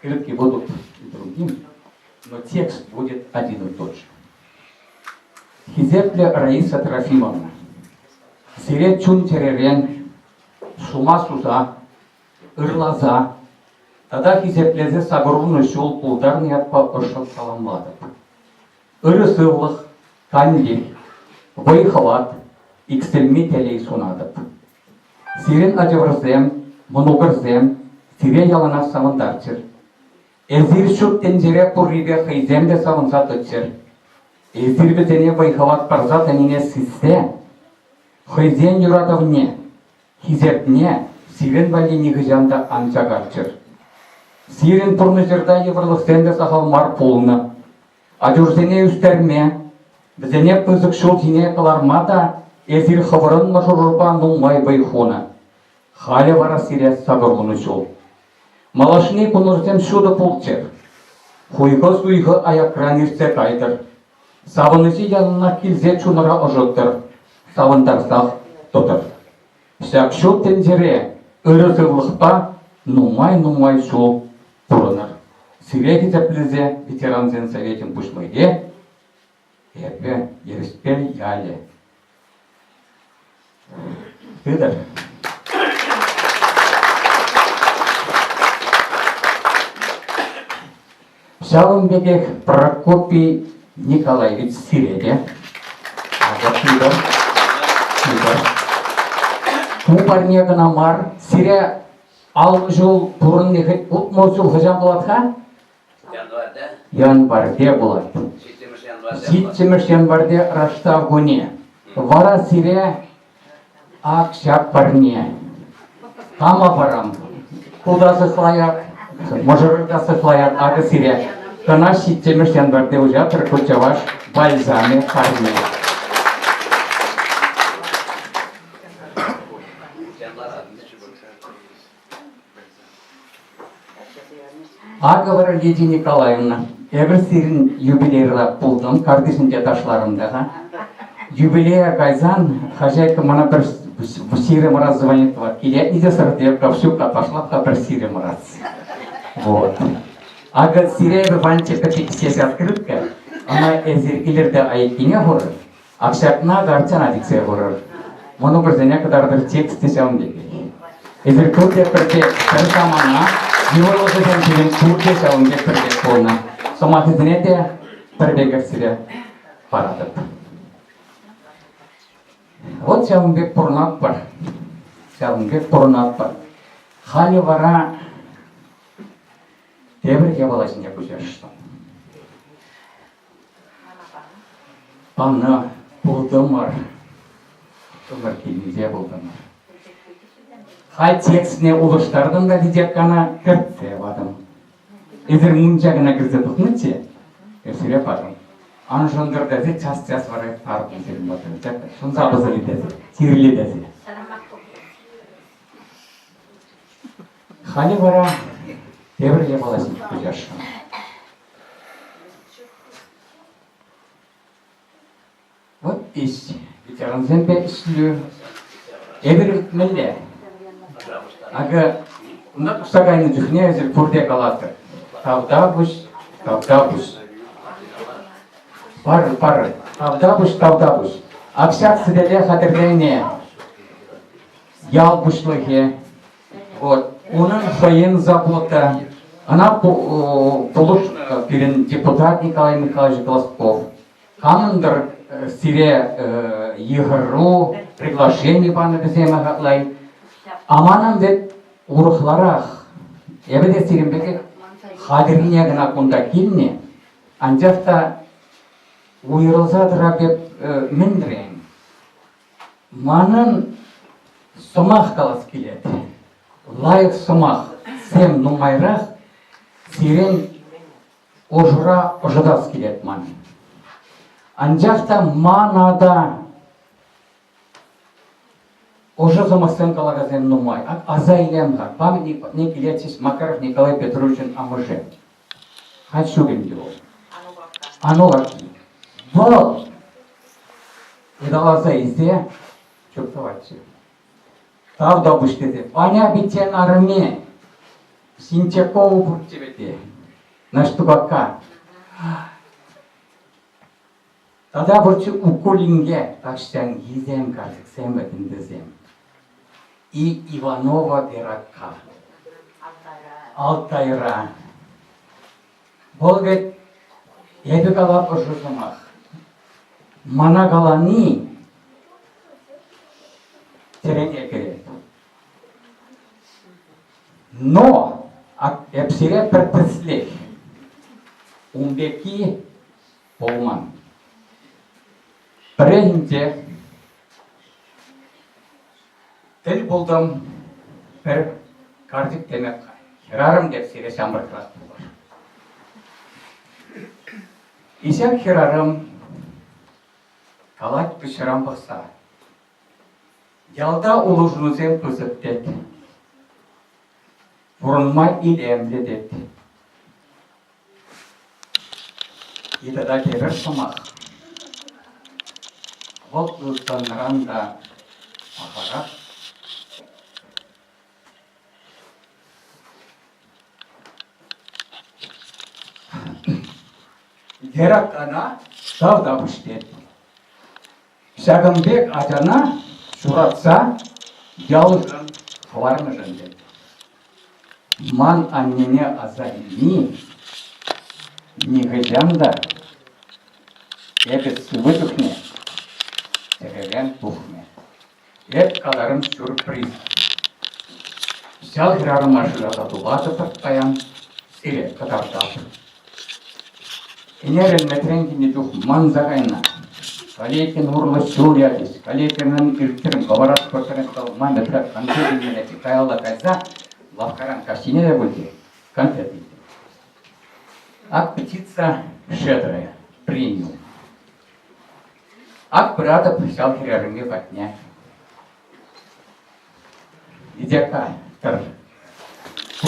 Крепкий воздух другим, но текст будет один и тот же. Хисеплӗ Раиса Трофимовна, сире чун-чӗререн шума суса, ырласа тата хисеплесе сакӑрунӑ ҫул пултарнӑ ятпа ӑшшӑн саламлатӑп. ырӑ сывлӑх, тан-тин, вӑй-хӑват, иксӗлми телей сунатӑп. Сирӗн, ачӑрсем, мӑнукӑрсем, сире яланах савӑнтарччӑр. Эсир ҫут тӗнчере пуррипе хӑйсем те савӑнса тӑччӑр. Эсир вӗсене вӑй-хӑват парса тӑнине сиссе хӑйсен юратӑвне, Хисепне сирӗн валли нихӑҫан та ан чакарччӑр. Сирӗн пурнӑҫӑрта йывӑрлӑхсем те сахал мар пулнӑ. Ачурсене ӳстерме, вӗсене пысӑк ҫул ҫине кӑларма та эсир хӑвӑрӑн мӑшӑрӑрпа нумай вӑй хунӑ. Халӗ вара сире сакӑрлунӑ ҫул. Малашне кунӑрсем ҫутӑ пулччӑр. Хуйхӑ-суйхӑ аякран иртсе кайтӑр. Савӑнӑҫи яланах килсе чунӑра ӑшӑттӑр, савӑнтарсах тӑтӑр. Ҫак ҫут тӗнчере ырӑ сывлӑхпа нумай-нумай ҫул пурӑнӑр. Сире хисеплесе ветерансен советӗн пуҫлӑхӗ, эпӗ Ерӗшпел ялӗ Петӗр. Ҫавӑн пекех Прокопий Николаевич сире те. Акӑ Петӗр. Петӗр. Ку парне кӑна мар, сире аллӑ ҫул пурӑнни утмӑл ҫул хӑҫан пулать-ха? Январьте пулать. Ҫиччӗмӗш январьте раштав кунӗ. Вара сире ак ҫак парне. Кама парам? Туда сыхлаяк, мӑшӑрка сыхлаяк акӑ сире. Кӑна ҫиччӗмӗш январьте уҫатӑр ку чӑваш бальзамӗ парне. Акӑ вара Лидия Николаевна, эпир сирӗн юбилейра пултӑм, картишӗнче ташларӑм та-ха. Юбилея кайсан хозяйка мана пӗр сирӗм раз звонит, илетни те сӑртеп, ковчуга пошла та пӗр сирем раз. Вот. Акӑ сире эпир ванчӑка пиксес открытка, ӑна эсир илӗрте айккине хурӑр, Ак ҫакна картина сиксе курӑр. Мӑнукӑрсене кӑтартӑр текст те ҫавӑн пекех. Эсир пурте пӗртек пӗр самана, йывӑрлӑхӗсем пирӗн пурте ҫавӑн пек пӗртек пулнӑ. Сӑмахӗсене те пӗр пекех сире паратӑп. Вот ҫавӑн пек пурӑнатпӑр. Ҫавӑн пек пурӑнатпӑр. Халӗ вара тепӗр япала ҫинче куҫаҫҫӗ. Ӑна пултӑмӑр. Тӑсӑк килсе пултӑмӑр. Хай текстне улӑштартӑм та видякана кӗртсе патӑм. Эсир мунча кӑна кӗрсе тухнӑччӗ, эсире патӑм. Ан шӑнтӑр тесе час-час вара тарӑн сирӗн патӑм. Шӑнса пӑсӑлӗ тесе, сирӗле тесе. Халӗ вара тепӗр япала ҫеҫ куҫасшӑн. Вӑт ис, ветерансемпе ӗҫлӳ эпир иртмелле. Акӑ, унта пусса кайнӑ чухне эсир пурте калатӑр. Тавтапуҫ, тавтапуҫ. Пар, пар, тавтапуҫ, тавтапуҫ. Общак сӗтеле хатӗрлени, ял пуҫлӑхӗ, Вот. Унӑн хӑйӗн забота. Ӑна пулӑш пирӗн депутат Николай Михайлович Глазков. Камӑндӑр сире йыхӑру, приглашение панӑ вӗсем хатлай. Аманӑн вӗт урӑхларах. Эпӗ те сирӗн пекех хатӗррине кӑна кунта килнӗ. Анчах та уйрӑлса тӑра пек мӗнрен? Манӑн сӑмах калас килет. Лайӑх сӑмахсем нумайрах сирӗн ӑшура ӑшӑтас килет ман. Анчах та мана та ӑшӑ сӑмахсем калакансем нумай. Аса илем-ха, памятник патне килет ҫеҫ Макаров Николай Петровичӑн амӑшӗ. Каҫ ҫук ӗнтӗ вӑл. Анулакки. Вӑл! Ыталаса илсе чуптӑватчӗ. Тав та пуҫ тесе. Аня пиччен арӑмне Синчакову пурччӗ вӗте. Наштукака. Тата пурччӗ Уккул инке тахҫанхисем карчӑксем вӗтӗнтӗсем. И Иванова Перакка. Алтайра. Вӑл вӗт, эпӗ калатпӑр шу сӑмах. Мана калани тӗрене кӗрет. Но эп сире пӗр тӗслех. Ун пекки пулман. Пӗррехинче тӗл пултӑм пӗр карчӑк теме хӗрарӑм пек сире ҫамрӑкрах пулӑр. И ҫак хӗрарӑм калать пуҫран пӑхса. Ялта улшӑнусем пысӑк тет. Пурӑнма илемлӗ тет. Питӗ та кирӗс сӑмах. Вӑл ылтӑнран та пахарах. Вера кана шав та пуҫтет. Ҫакӑн пек ачана ҫуратса ялшӑн хӑварнӑшӑн тет. Ман аннене аса илни нихӑҫан та эпӗ сывӑ чухне тӗререн тухмӗ. Эп каларӑм сюрприз. Ял хӗрарӑма шыраса тупатӑпӑр паян, сире кӑтартатӑп. Ӗнерӗлмесрен килнӗ чух манса кайнӑ. Калекин урлӑ ҫул ячӗҫ. Калекинӑн ирттерен пӑварас портрет вӑл ман ятра конфет илмелле каялла кайса лавккаран каҫхине те пулчӗ, конфет илтӗм. Аппетита шедрая, премиум. Ак пыратӑп ҫав хӗрарӑмри патне. Идяка, тӑр.